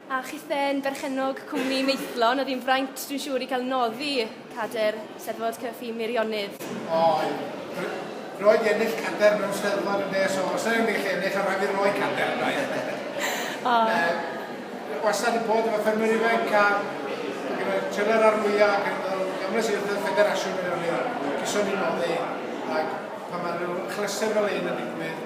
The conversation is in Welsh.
A chithau'n berchennog cwmni Maethlon, oedd hi'n fraint, dwi'n siŵr, i cael noddi cadair Steddfod Cyffin Meirionnydd. Oedd. Roedd ennill cadair mewn Steddfod yn nes o, os na ennill, ennill o ran i roi cadair, rhaid. O. Yy, wastad yn bod efo ffermwyr ifanc a gyda trylau'r ar fwyaf ac yn meddwl, gymryd sy'n rhywbeth ffederasiwn Meirionnydd, cyson ni noddi, ac pan mae rhyw chlystr fel ein yn digwydd,